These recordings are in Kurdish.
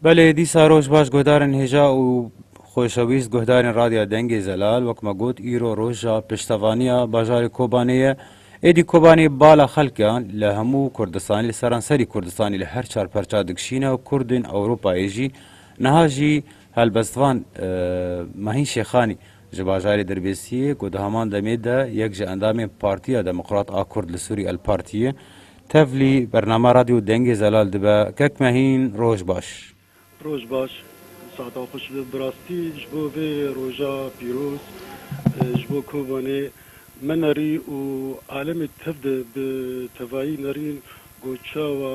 Belê dîsa roj baş guhdarên hêja û xweşewîst guhdarên Radya Dengê Zelal wek me got îro roja piştevaniya bajarê Kobanê ye. Êdî Kobanê bala xelkan li hemû Kurdistanê li seranserî Kurdistanê li her çar perça dikişîne û Kurdên Ewropayê jî niha jî helbestvan Mahîn Şêxanî Ji bajarê Dirbêsiyê ku di heman demê de yek ji endamên Partiya Demokrat a Kurd li Sûrî El Parti ye, tevlî bername Radyo Dengê Zelal dibe, Kek Mehîn, roj baş. Roj baş, saetan xweş be. Bi rastî ji bo vê roja pîroz ji bo Kobanê me nerî û alemê tev de bi tevayî nerîn ku çawa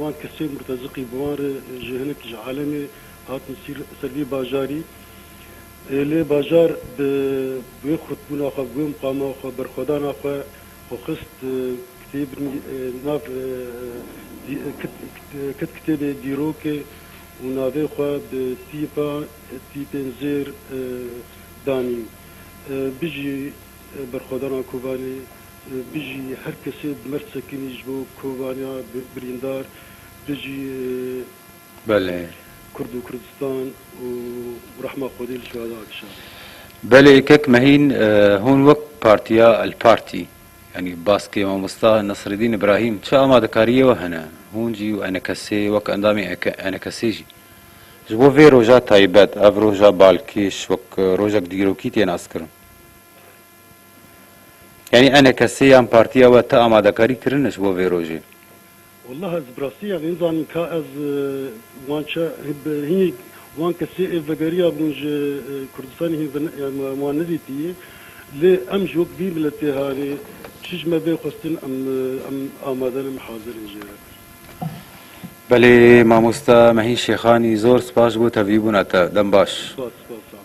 Wan kesên murteziqî bi wan re ji hinek ji alemê hatin ser vî bajarî. Lê bajar bi wê xurtbûna xwe, bi wê muqama xwe, berxwedana xwe xwe xist kitêbin nav kit kitêbê dîrokê û navê xwe bi tîpa tîpên zêr danî. Bijî berxwedana Kobanê Bijî her kesê bi mird sekinî ji bo kovaniya birîndar bijî. Belê. Kurd û Kurdistan û rehma Xwedê li Şehada Akşarê. Belê kek mehîn hûn wek partiya El Partî yanî baskê mamosta Nesredîn Îbrahîm çi amadekariyê we hene hûn jî û enekesê wek endamê enekesê jî ji bo vê roja taybet ev roja balkêş wek rojek dîrokî tê naskirin. Yanî enê kesê yan partiya we ti amadekarî kirine ji bo vê rojê? Wallah ez bi rastî ya nêzanin ka ez wan çi bi hînî wan kesê ê vegeriya bûn ji Kurdistanê hîn me wan nedîtîyê lê em ji wek vî miletê hanê çi ji me bê xwestin em em amade ne em hazir in jê re. Belê mamosta Mehîn Şêxanî zor spas ji bo tevlîbûna te. Dem baş. Spas spas.